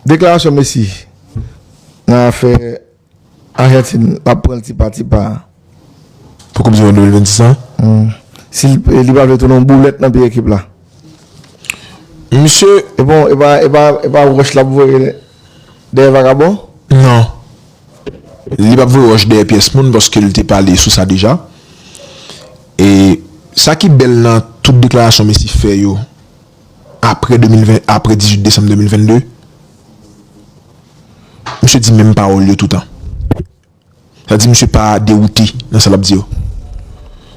Deklarasyon Messi nan afè Ajantin l ap pran l ti pa ti pa a. Pou koup di mond 2026 la? Si li pa vle tounen yon boulèt nan pye ekip la. Misye. E pa wòch l ap voye dèyè vakabon? Non. Li p ap voye wòch dèyè pyès moun paske l te pale sou sa deja. E sa ki bèl nan tout deklarasyon Messi fè yo. apre 2020 apre 18 desanm 2022 misye di menm pawòl yo toutan sa di misye pa dewoute nan sa lap di yo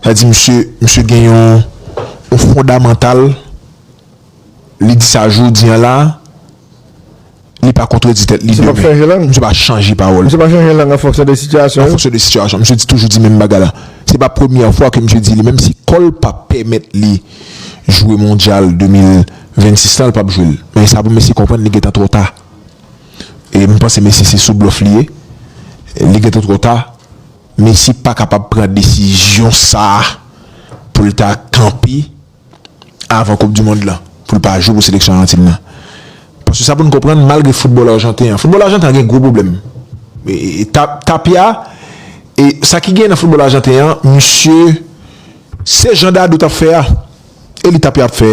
sa di misye misye gen yon yon fondamantal li di sa jodi an la. Li pa kontredi tèt li demen. Misye pap chanje lang. Misye pa chanje pawòl. Misye pa chanje lang an fonksyon de sitiyasyon yo. An fonksyon de sitiyasyon. Misye di toujou di menm bagay la. Se pa premyè fwa ke misye di li menm si kò l pa pèmèt li jwe mondyal 2026 lan, li pap jwe l. Men sa pou Messi konprann li gentan twò ta. E m panse Messi se sou blòf li ye. Li gentan twò ta. Messi pa kapab pran desizyon sa pou l ta kanpe avan koup du mond lan pou l pa jwe pou seleksyon ajantin lan paske sa pou n konprann malgre foutbòl ajanten an foutbòl ajanten an gen gwo pwoblèm tapia e sa ki gen nan foutbòl ajanten an misye se jan dadou tap fè a e li tapia ap fè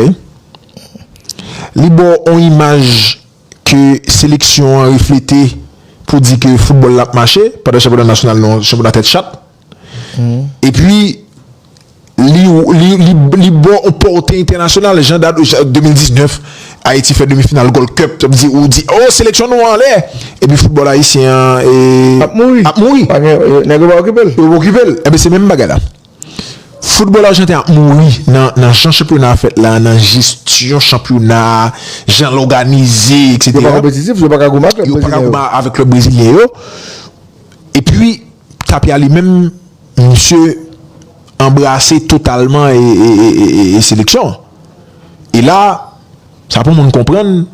li ba w on imaj ke seleksyon an reflete pou di ke foutbòl la ap mache pandan chanpyona nasyonal nou an se chanpyona tèt chat. E pi li bon ou porte entènasyonal jan dat 2019 Ayiti fè demi final Gold Cup ou di oh seleksyon nou an anlè e pi foutbòl ayisyen an ap mouri ap mouri nèg yo pa okipe l yo pa okipe l e ben se menm bagay la foutbòl ajanten an ap mouri nan jan chanpyona a fèt la nan jesyon chanpyona a jan l òganize eksetera yo pa konpetitif yo pa ka goumen avèk klèb brezilyen yo. Epi Tapia li menm misye anbrase totalman seleksyon an. E la sa pou moun konprann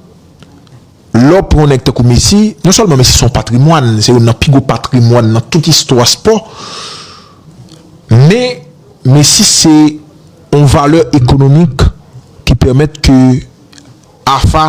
lè w pran yon nèg tankou Messi, non sèlman Messi se yon patrimwàn, se youn nan pi gwo patrimwàn nan tout istwa spò, men Messi se yon valè ekonomik ki pèmèt ke AFA.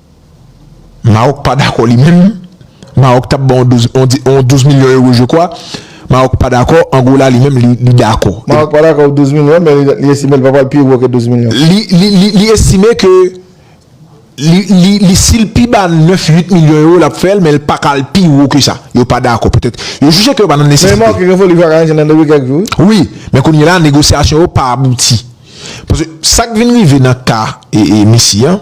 Maroc pa dakò li menm, Maroc tap ban yon 12 milyon euro je kwa, Maroc pa dakò, Angola li menm li dakò. Maroc pa dakò pou 12 milyon men li estime li pa pral pi wo ke 12 milyon. Li estime ke li sil pi ba 9, 8 milyon euro lap fèl men li pa ka al pi wo ke sa. Yo pa dakò petèt yo jije ke yo pa nan nesesite. Men Maroc gen foli pou yo ka ranjel nan depi kèk jou. Wi, men kounye la negosyasyon yo pa abouti. Paske sak vin rive nan ka Messi an.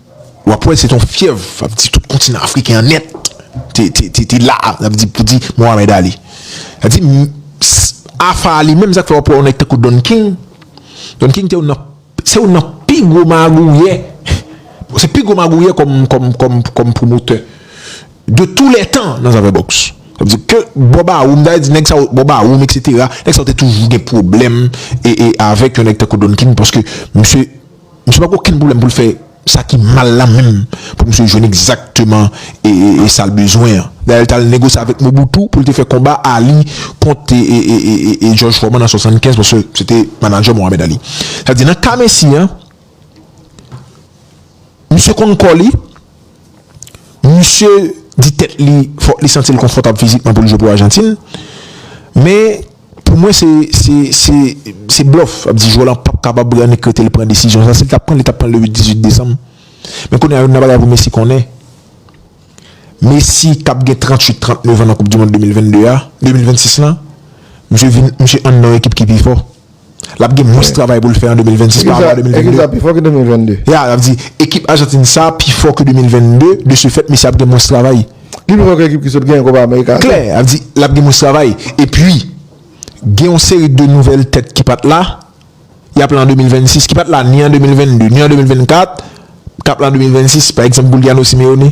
W ap wè se te yon fyèv, w ap di tout kontinan afriken an nèt te la a, w ap di pou di Mohamed Ali. W ap di Afar Ali menm sa k fè w ap wè yon nèg tankou Don King, Don King te youn nan, se youn nan pi gwo magouyè, se pi gwo magouyè kòm pwomotè de tou lè tan nan zafè bòks. Sa vle di ke bò bawoum, ta vle di nèg sa yo, bò bawoum eksetera, nèg sa yo te toujou gen pwoblèm avèk yon nèg tankou Don King paske misye. Misye pa gen okenn pwoblèm pou l fè sa ki mal la menm pou misye jwenn egzakteman e sa l bezwen an. Dayè l t al negosye avèk Mobutu pou l te fè konba Ali kont e Jòj Fòman an 75 paske se te manadjè Mohamed Ali. Sa vle di nan ka Messi an misye konn kò li. Misye di tèt li fòk li santi l konfòtab fizikman pou l jwe pou Ajantin. Men, pou mwen se blòf. Sa vle di jwè lan pap kapab rannik rete li pran desizyon sa. Si l t ap pran l, li t ap pran l le 8, 18 desanm. Men kounye a, youn nan bagay pou Messi konnen, Messi k ap gen 38, 39 an nan koupdimonn 2022 a, 2026 lan, misye vin, misye ann nan yon ekip ki pi fò. L ap gen mwens travay pou l fè an 2026 pa rapò a 2022. Ekip sa pi fò ke 2022. Ya, l ap di, ekip Ajantin sa pi fò ke 2022, de se fèt, mesye ap gen mwens travay. Li pi fò ke ekip ki sot genyen Kopa Amerika a tou. Klè, ap di, l ap gen mwens travay. E pi, gen yon seri de nouvèl tèt ki pa t la, y ap la an 2026, ki pa t la ni an 2022, ni an 2024, k ap la an 2026, pa egzanp Guiliano Simeone.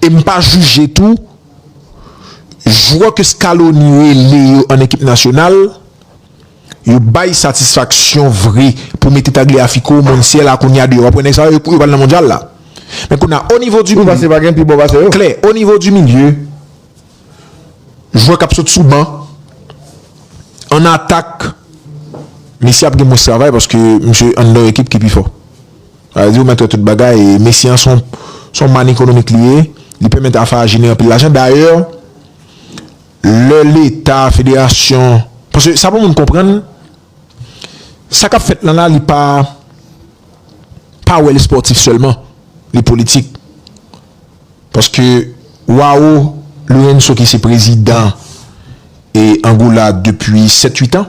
e m pa jije tou jwè ke Scaloni rele yo an ekip nasyonal yo bay satisfaksyon vre pou mete Tagliafico, Montiel-a kounya deyò, wap wè nèg sa yo yo pral nan mondyal la men kounya o nivo di milye klè, o nivo di milye jwè kap sot sou ban an atak Messi ap gen mwens travay paske misye anndan yon ekip ki pi fò. Sa vle di ou mèt wè tout bagay. Mesye an son son man ekonomik li ye. Li pèmèt AFA jenere anpil lajan. Dayè, lè leta, federasyon, paske sa pou moun konprann, sa k ap fèt lan la li pa pa wè li spòtif sèlman. Li politik. Paske Wao Lourenço ki se prezidan e Angola depi 7, 8 an.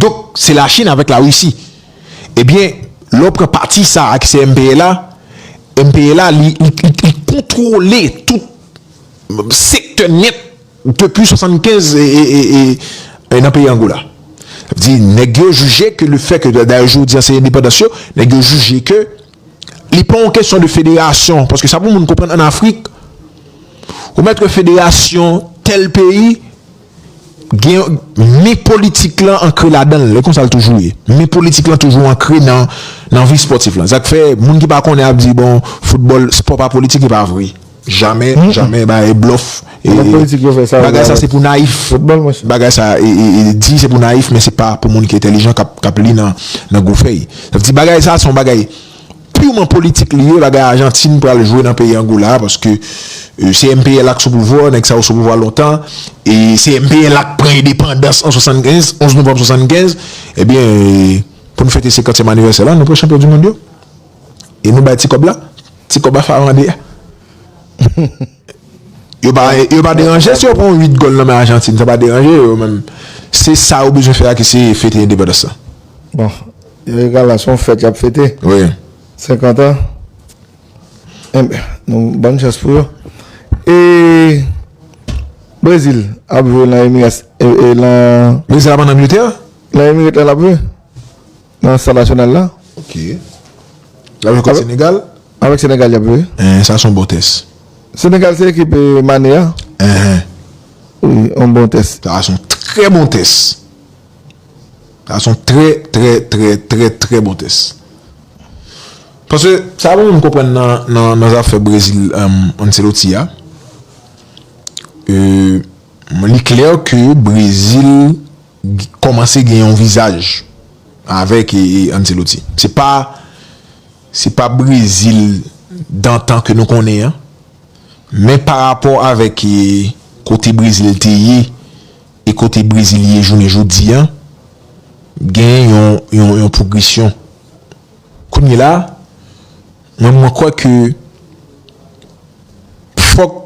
Donk se la chine avèk la risi ebyen lè w pran pati sa a ki se MPLA MPLA li kontwole tout sektè nèt depi 75 e nan peyi Angola sa vle di nèg yo jije ke le fè ke dayè jodi a se endepandans yo nèg yo jije ke li pa yon kesyon de federasyon paske sa pou moun konprann an Afrik ou mèt gen federasyon tèl peyi gen men politik lan ankre ladan l, e konsa l toujou ye. Men politik lan toujou ankre nan vi spòtif lan. Sa k fè moun ki pa konnen ap di bon foutbòl, spò pa politik e pa vre. Jamè, jamè bay blòf. Bagay sa se pou nayif. Bagay sa di se pou nayif men se pa pou moun ki entelijan k ap li nan gwo fèy. Sa vle di bagay sa se yon bagay. Purement politik li ye bagay Argentine pral jwe nan peyi Angola paske se MPLA k sou pouvwa nèg sa yo sou pouvwa lontan e se MPLA k pran endepandans an 75 11 novanm 75 ebyen pou n fete senkantyèm anivèsè la nou pran chanpyon du mond yo e nou bay ti kòb la ti kòb a farande a yo pa yo pa deranje si yo pran 8 gòl nan men Argentine sa pa deranje yo menm se sa yo bezwen fè a ki se fete endepandans la. Youri Galan son fèt yap fete wi 50 ans enbyen nou bann chans pou yo e Brezil ap jwe nan Emiras e nan Brezil ap an Angletè nan Emirate la lap jwe nan stad nasyonal la ok lap jwe kont Senegal avèk Senegal yap jwe enhen sa son bon tès Senegal se ekip Mane a enhen wi yon bon tès sa son trè bon tès. Sa son trè trè trè trè trè bon tès. Paske sa mwen menm konprann nan nan zafè Brezil Ancelotti a euh li klè ke Brezil kòmanse gen yon vizaj avèk Ancelotti. Se pa se pa Brezil dantan ke nou konnen an men parapò avèk kote Brezil te ye E kote Brezil ye jounen jodi a, gen yon pwogresyon. Kounyela a, mwen mwen kwè ke fòk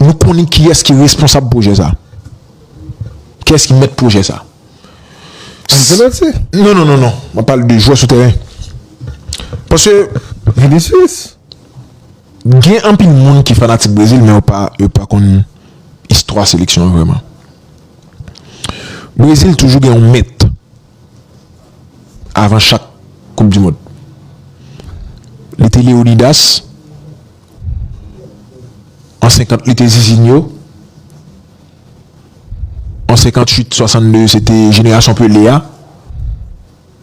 nou konnen kiyès ki responsab pwojè sa. Kiyès ki mèt pwojè sa. Ancelotti? Non, non, non, non. Mwen pale de jwè sou tèren. Paske. Vinicius? Gen anpil moun ki fanatik Brezil men yo pa konn istwa seleksyon an vrèman. Brezil toujou gen yon mèt avan chak koup di mond. Li te Leonidas, an 50 li te Zizinho, an 58, 62 se te jenerasyon Pele a.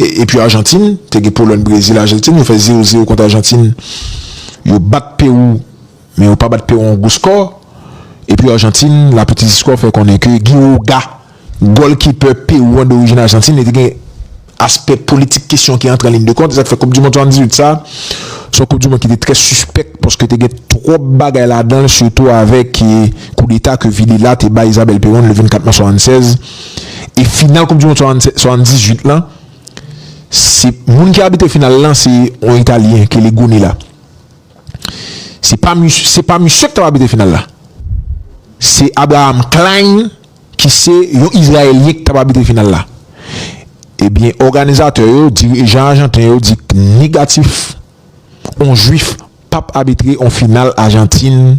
Epi Arjantin, te gen Polòn, Brezil, Arjantin yo fè 0 0 kont Arjantin. Yo bat Pewou, men yo pa bat Pewou yon gwo skò. Epi Arjantin, Lapetite Histoire fè konnen ke Guy Oga, gòlkipè Pewou an dorijin Arjantin, li te gen aspè politik kesyon ki antre an liyn de kont. E sa ki fè Koup Dimond 78 sa, se yon Koup Dimond ki te trè sispèk paske te gen twòp bagay ladan l sitou avèk koudeta ke Villela te bay Isabelle Perón le 24 mas 76. e final koup dimond 78 lan se moun ki abitre final lan se yon italyen ki rele Gunilla se pa misye se pa misye ki tap abitre final la se Abraham Klein ki se yon izrayelyen ki tap abitre final la ebyen eh òganizatè yo dirijan ajanten yo di negatif yon jwif pap abitre yon final ajantin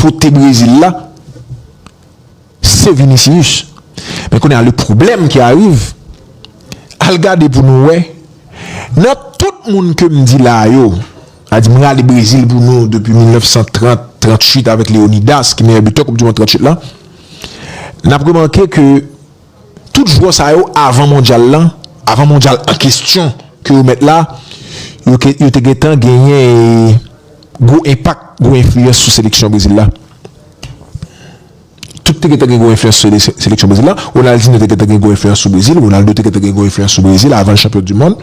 pote Brésil la se Vinicius men kounye a le problème ki ariv al gade pou nou wè nan tout moun ke m di la yo a di m rale Brésil pou nou depi 1930 38 avèk Léonidas ki meyè bitè koup du mond 38 la n ap remake ke Tout jwè sa yo avan mondyal lan, avan mondyal an kestyon ke yo mèt la, yo te gentan genyen gwo enpak, gwo enfliyans sou seleksyon Brezil la. Tout te gentan gen gwo enfliyans sou seleksyon Brezil la. Ronaldinho te gentan gen gwo enfliyans sou Brezil, Ronaldo te gentan gen gwo enfliyans sou Brezil avan l chanpyon dimond,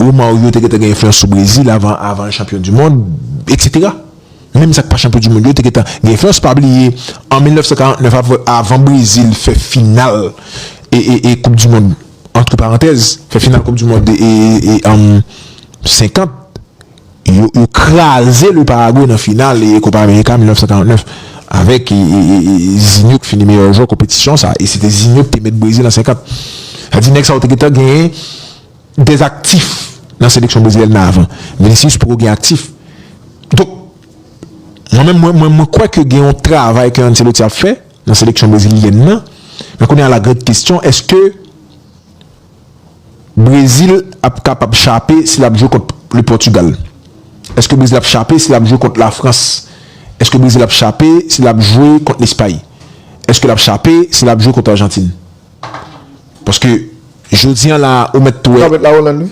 Romario te gentan gen enfliyans sou Brezil avan l chanpyon dimond, etc. Menm sa k pa chanpyon du mond yo te gentan gen fòs pa bliye an 1949 avan Brezil fè final koup du mond antre parantèz fè final koup du mond 50 yo kraze le Paraguay nan final kopa amerika 1949 avèk Zinho ki fini meyè jwè konpetisyon sa e se te Zinho ki te met Brezil an 50 sa di nèg sa yo te gentan gen des aktif nan seleksyon brezilyèn nan avan Vinicius poko gen aktif donk mwen menm mwen mwen mwen kwè ke gen yon travay ke Ancelotti ap fè nan seleksyon brezilyèn nan men kounye a la grand kesyon eske Brezil ap kapab chape si lap jwe kont le Pòtugal eske Brezil ap chape si lap jwe kont la Frans eske Brezil ap chape si lap jwe kont Lespay eske lap chape si lap jwe kont Arjantin. Paske jodi an la ou mèt wè. Ou ka mèt la Hollande wi.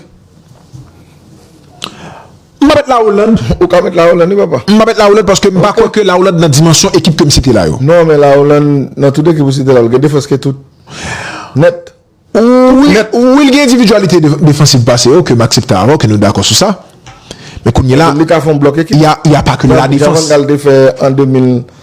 M pa mèt la Hollande. Ou ka mèt la Hollande wi papa. M pa mèt la Hollande paske m pa kwè ke la Hollande nan dimansyon ekip ke m site la yo. Non men la Hollande nan tout ekip ou site la l gen defans ke tout. Nèt. Wi l gen endividyalite defansiv pase yo ke m aksepte avè w ke nou dakò sou sa. Men kounye la. Li ka fè yon blòk ekip. Ya pa ke nan la defans. Jan van Gaal te fè an 2000.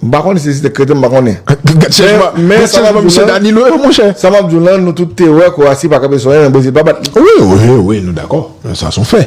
M pa konnen si se te kreten, m pa konnen. Gad chanjman, gad chanjman misye Danilo yo monchè. Sa m ap di w lan, nou tout te wè Kowasi pa kanpe sou anyen men Brezil pa bat li. Wi, wi, wi, nou dakò. Sa s on fè.